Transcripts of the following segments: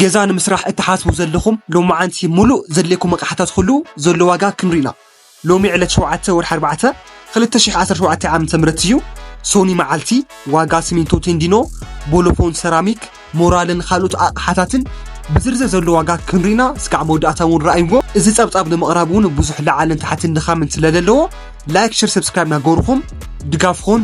ገዛ ንምስራሕ እትሓስቡ ዘለኹም ሎምዓንቲ ሙሉእ ዘድልየኩም ኣቕሓታት ኹሉ ዘሎ ዋጋ ክንሪ ኢና ሎሚ ዕለት ሸውዓተ ወርሒ ኣርባዕተ ክልተ ሽሕ ዓሰርተ ሸውዓተ ዓመተ ምህረት እዩ ሶኒ መዓልቲ ዋጋ ሲሚንቶ ቴንዲኖ ቦሎፎን ሰራሚክ ሞራልን ካልኦት ኣቕሓታትን ብዝርዝር ዘሎ ዋጋ ክንሪና እስካዕ መወዳእታ እውን ረኣይዎ እዚ ጸብጻብ ንምቕራብ እውን ብዙሕ ለዓልን ታሕትን ድኻምን ስለ ዘለዎ ላይክ ሽር ሰብስክራይብ ናገርኹም ድጋፍኹን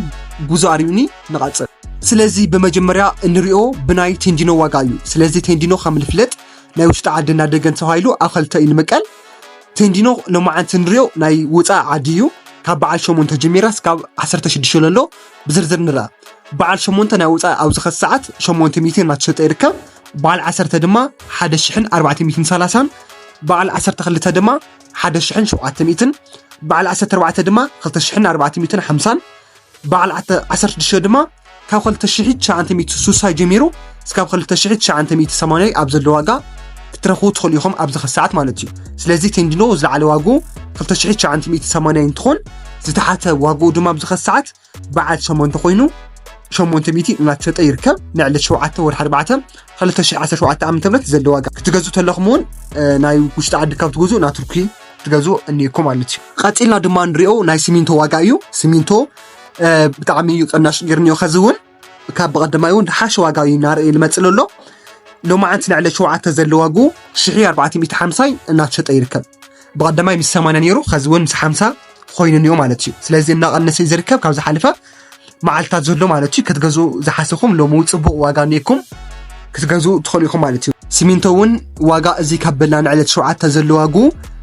ጉዞ ኣርዩኒ ንቐጽል። ስለዚ ብመጀመርያ እንሪኦ ብናይ ቴንዲኖ ዋጋ እዩ። ስለዚ ቴንዲኖ ከም ልፍለጥ ናይ ውሽጢ ዓድን ናይ ደገን ተባሂሉ ኣብ ኸልተ እዩ ልምቀል። ቴንዲኖ ሎማዓንቲ እንሪኦ ናይ ውጻእ ዓዲ እዩ። ካብ በዓል ሸሞንተ ጀሚራ ስካብ ዓሰርተ ሽዱሽተ ለሎ ብዝርዝር ንርኣ። በዓል ሸሞንተ ናይ ውጻእ ኣብዚ ኸዚ ሰዓት ሸሞንተ ሚእቲ እናተሸጠ ይርከብ። በዓል ዓሰርተ ድማ ሓደ ሽሕን ኣርባዕተ ሚእትን ሰላሳን፣ በዓል ዓሰርተ ክልተ ድማ ሓደ ሽሕን ሸውዓተ ሚእትን፣ በዓል ዓሰርተ ኣርባዕተ ድማ ክልተ ሽሕን ኣርባዕተ ሚእትን ሓምሳን፣ በዓል ዓሰርተ ሽዱሽተ ድማ ካብ ክልተ ሽሕ ትሽዓንተ ሚእቲ ስሳይ ጀሚሩ እስካብ ክልተ ሽሕ ትሽዓንተ ሚእቲ ሰማንያይ ኣብ ዘሎ ዋጋ ክትረኽቡ ትኽእሉ ኢኹም ኣብዚ ኸ ሰዓት ማለት እዩ ስለዚ ቴንዲኖ ዝለዓለ ዋግኡ ክልተ ሽሕ ትሽዓንተ ሚእቲ ሰማንያይ እንትኾን ዝተሓተ ዋግኡ ድማ ኣብዚ ኸ ሰዓት በዓል ሸሞንተ ኮይኑ ሸሞንተ ሚእቲ እናተሸጠ ይርከብ ንዕለት ሸውዓተ ወርሒ ኣርባዕተ ክልተ ሽሕ ዓሰርተ ሸውዓተ ዓመተ ምህረት ዘሎ ዋጋ ክትገዝኡ ተለኹም እውን ናይ ውሽጢ ዓዲ ካብ ትገዝኡ ናብ ቱርኪ ትገዝኡ እኒኢኩም ማለት እዩ ቐፂልና ድማ ንሪኦ ናይ ሲሚንቶ ዋጋ እዩ ሲሚንቶ ብጣዕሚ እዩ ቅናሽ ጌርኒዮ ከዚ እውን ካብ ብቐደማይ እውን ሓሸ ዋጋ እዩ እናርእ ልመፅእ ዘሎ ሎማዓንቲ ልዕሊ ሸውዓተ ዘሎ ዋጉ ሽሕ ኣርባዕተ ሚእቲ ሓምሳይ እናተሸጠ ይርከብ ብቐደማይ ምስ ሰማንያ ነይሩ ከዚ እውን ምስ ሓምሳ ኮይኑ እኒኦ ማለት እዩ ስለዚ እናቐነሰ እዩ ዝርከብ ካብ ዝሓለፈ መዓልትታት ዘሎ ማለት እዩ ክትገዝኡ ዝሓሰብኩም ሎሚ እውን ፅቡቕ ዋጋ ኔኩም ክትገዝኡ ትኽእሉ ኢኹም ማለት እዩ ሲሚንቶ እውን ዋጋ እዚ ካብ በላ ንዕለት ሸውዓተ ዘሎ ዋጉ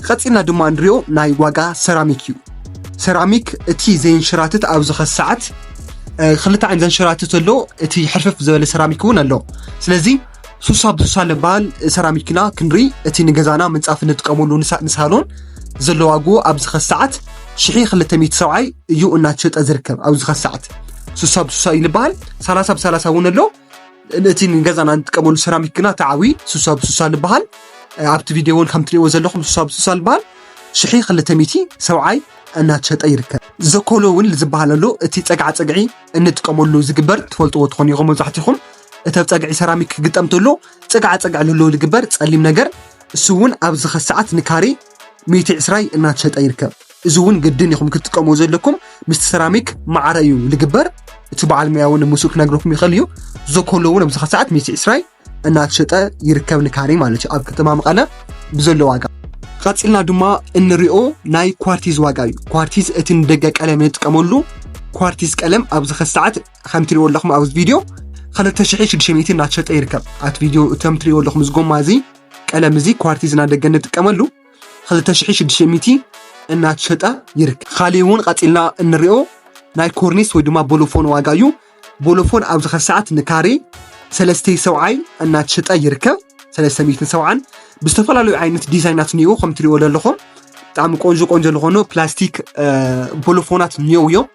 ቐፂልና ድማ ንሪኦ ናይ ዋጋ ሰራሚክ እዩ ሰራሚክ እቲ ዘይንሸራትት ኣብ ዝኸስ ሰዓት ክልተ ዓይነት ዘንሸራትት ኣሎ እቲ ሕርፍፍ ዝበለ ሰራሚክ እውን ኣሎ ስለዚ ሱሳ ብሱሳ ልበሃል ሰራሚክና ክንሪ እቲ ንገዛና ምንፃፍ ንጥቀመሉ ንሳሎን ዘሎ ዋግኡ ኣብዚ ኸዚ ሰዓት ሽሒ ክልተ ሚእቲ ሰብዓይ እዩ እናተሸጠ ዝርከብ ኣብዚ ኸዚ ሰዓት ሱሳ ብሱሳ እዩ ልበሃል ሰላሳ ብሰላሳ እውን ኣሎ እቲ ንገዛና ንጥቀመሉ ሰራሚክ ግና ተዓዊ ሱሳ ብሱሳ ልበሃል ኣብቲ ቪድዮ እውን ከም ትሪእዎ ዘለኹም ሱሳ ብሱሳ ልበሃል ሽሒ ክልተ ሚእቲ ሰብዓይ እናተሸጠ ይርከብ ዘኮሎ እውን ዝበሃል ኣሎ እቲ ፀግዓ ፀግዒ እንጥቀመሉ ዝግበር ትፈልጥዎ ትኾኑ ኢኹም መብዛሕትኹም እቲ ኣብ ጸግዒ ሰራሚክ ክግጠም ተሎ ጽግዓ ጸግዒ ለለዎ ዝግበር ጸሊም ነገር እሱ እውን ኣብዚ ከሰዓት ንካሬ ሚእቲ ዕስራይ እናተሸጠ ይርከብ እዚ እውን ግድን ኢኹም ክትጥቀሙ ዘለኩም ምስቲ ሰራሚክ ማዕረ እዩ ዝግበር እቲ በዓል ሙያ እውን ምስኡ ክነግረኩም ይኽእል እዩ ዞኮሎ እውን ኣብዚ ከሰዓት ሚእቲ ዕስራይ እናተሸጠ ይርከብ ንካሬ ማለት እዩ ኣብ ከተማ መቐለ ብዘሎ ዋጋ ቀፂልና ድማ እንሪኦ ናይ ኳርቲዝ ዋጋ እዩ ኳርቲዝ እቲ ንደገ ቀለም ንጥቀመሉ ኳርቲዝ ቀለም ኣብዚ ከሰዓት ከም ትሪእዎ ኣለኹም ኣብዚ ቪድዮ 2600 እናተሸጠ ይርከብ ኣብቲ ቪድዮ እቶም ትሪእዎ ኣለኹም እዚ ጎማ እዚ ቀለም እዚ ኳርቲዝ እናደገ እንጥቀመሉ 2600 እናተሸጠ ይርከብ ካሊእ እውን ቀፂልና እንሪኦ ናይ ኮርኒስ ወይ ድማ ቦሎፎን ዋጋ እዩ ቦሎፎን ኣብዚ ኸዚ ሰዓት ንካሬ ሰለስተ ሰብዓይ እናተሸጠ ይርከብ ሰለስተ ሚትን ሰብዓን ብዝተፈላለዩ ዓይነት ዲዛይናት እኒኡ ከም ትሪእዎ ዘለኹም ብጣዕሚ ቆንጆ ቆንጆ ዝኾኑ ፕላስቲክ ቦሎፎናት እኒኦ እዮም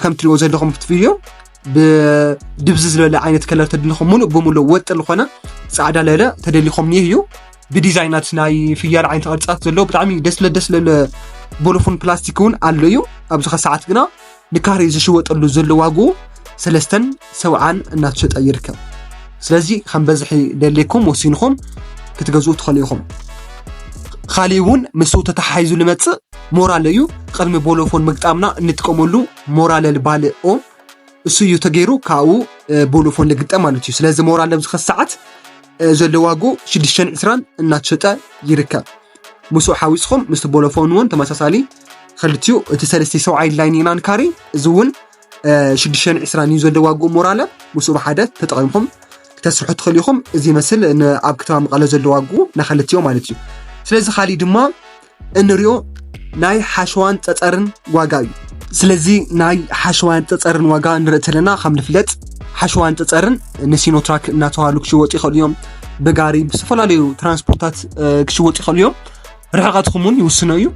ከም ትሪእዎ ዘለኹም እቲ ቪድዮ ብድብዝ ዝበለ ዓይነት ከለር ተድልኹም ሙሉእ ብሙሉእ ወጥ ዝኾነ ፃዕዳ ለለ ተደሊኹም ኒህ እዩ ብዲዛይናት ናይ ፍያል ዓይነት ቅርፅታት ዘለዎ ብጣዕሚ ደስ ለደስ ለለ ቦሎፎን ፕላስቲክ እውን ኣሎ እዩ ኣብዚ ከሰዓት ግና ንካሬ ዝሽወጠሉ ዘሎ ዋግኡ ሰለስተን ሰብዓን እናተሸጠ ይርከብ። ስለዚ ከም በዝሒ ደሌኩም ወሲንኹም ክትገዝኡ ትኸእሉ ኢኹም። ኻሊእ እውን ምስ ተተሓሒዙ ልመፅእ ሞራለ እዩ። ቕድሚ ቦሎፎን ምግጣምና እንጥቀመሉ ሞራለል ባል ኦ እሱ እዩ ተገይሩ ካብኡ ቦሎፎን ልግጠ ማለት እዩ። ስለዚ ሞራለ ኣብዚ ኸሰዓት ዘለዋጉ ሽዱሽተን ዕስራን እናተሸጠ ይርከብ። ምስኡ ሓዊስኹም ምስ ቦሎፎን እውን ተመሳሳሊ ኸልትኡ እቲ ሰለስተ ሰውዓይ ላይን ኢናን ካሪ እዚ እውን ሽዱሽተን ዕስራን እዩ ዘሎ ዋግኡ ሞራለ ምስኡ ብሓደ ተጠቒምኩም ክተስርሑ ትኽእሉ ኢኹም እዚ ይመስል ኣብ ከተማ መቐለ ዘሎ ዋግኡ ናኸለትዮ ማለት እዩ ስለዚ ካሊእ ድማ እንሪኦ ናይ ሓሸዋን ፀፀርን ዋጋ እዩ ስለዚ ናይ ሓሸዋን ፀፀርን ዋጋ ንርኢ ተለና ከም ንፍለጥ ሓሸዋን ፀፀርን ንሲኖትራክ እናተባሃሉ ክሽወጡ ይኽእሉ እዮም ብጋሪ ብዝተፈላለዩ ትራንስፖርታት ክሽወጡ ይኽእሉ እዮም ርሕቐትኩም እውን ይውስኖ እዩ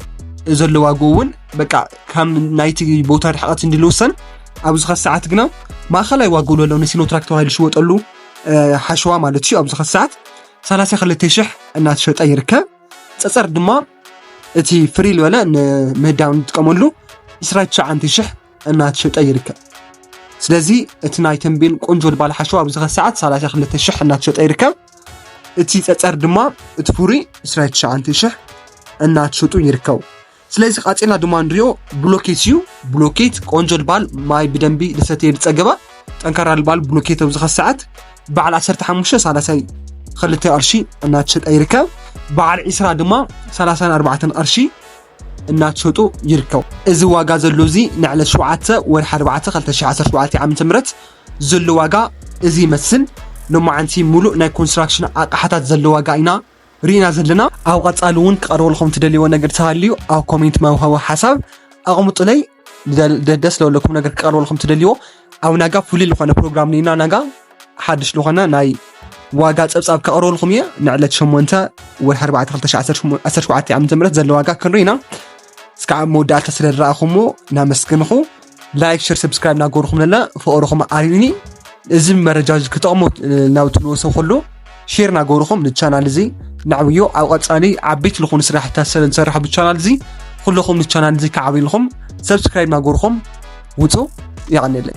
ዘሎ ዋግኡ እውን በቃ ካብ ናይቲ ቦታ ርሕቐት እንዲ ልውሰን ኣብዚ ኸ ሰዓት ግና ማእኸላይ ዋግኡ ለሎ ንሲኖትራክ ተባሂሉ ሽወጠሉ ሓሸዋ ማለት እዩ ኣብዚ ኸ ሰዓት 32 ሽሕ እናተሸጠ ይርከብ ፀፀር ድማ እቲ ፍሪ ልበለ ንምህዳም ንጥቀመሉ 29 ሽሕ እናተሸጠ ይርከብ ስለዚ እቲ ናይ ተንቤን ቆንጆ ልባል ሓሸዋ ኣብዚ ኸ ሰዓት 32 ሽሕ እናተሸጠ ይርከብ እቲ ፀፀር ድማ እቲ ፍሩይ 29000 እናተሸጡ ይርከቡ። ስለዚ ቀፂልና ድማ ንሪኦ ብሎኬት እዩ። ብሎኬት ቆንጆ ልባል ማይ ብደንቢ ዝሰተየ ዝፀገበ ጠንካራ ልባል ብሎኬት ኣብዚ ኸዚ ሰዓት በዓል 15 ሳላሳይ ክልተ ቅርሺ እናተሸጠ ይርከብ። በዓል ዒስራ ድማ 34 ቅርሺ እናተሸጡ ይርከቡ። እዚ ዋጋ ዘሎ እዚ ንዕለት 7 ወርሒ 4 2017 ዓ ም ዘሎ ዋጋ እዚ ይመስል። ሎማዓንቲ ሙሉእ ናይ ኮንስትራክሽን ኣቅሓታት ዘሎ ዋጋ ኢና ሪኢና ዘለና። ኣብ ቐፃሊ እውን ክቀርበልኹም ትደልይዎ ነገር ተሃልዩ ኣብ ኮሜንት መውሀቢ ሓሳብ ኣቅምጡለይ። ደስ ለለኩም ነገር ክቀርበልኹም ትደልይዎ ኣብ ናጋ ፍሉይ ልኾነ ፕሮግራም ኒና ናጋ ሓድሽ ልኾነ ናይ ዋጋ ፀብፃብ ከቕርበልኩም እየ ንዕለት 8 ወርሒ 4 2017 ዓ ም ዘሎ ዋጋ ክንርኢና እስካብ መወዳእታ ስለ ዝረኣኹምዎ ናመስግንኹ ላይክ ሸር ሰብስክራይብ እናገበርኩም ለና ፍቕርኹም ኣርዩኒ እዚ መረጃ እዚ ክጠቕሞ ናብ ትንወሰ ከሎ ሼር እናገበርኩም ንቻናል እዚ ናዕብዮ ኣብ ቀፃሊ ዓበይቲ ዝኾኑ ስራሕታት ሰብ ንሰርሕ ብቻናል እዚ ኩለኹም ንቻናል እዚ ክዓብይልኹም ሰብስክራይብ እናገበርኩም ውፁ ይቐንለይ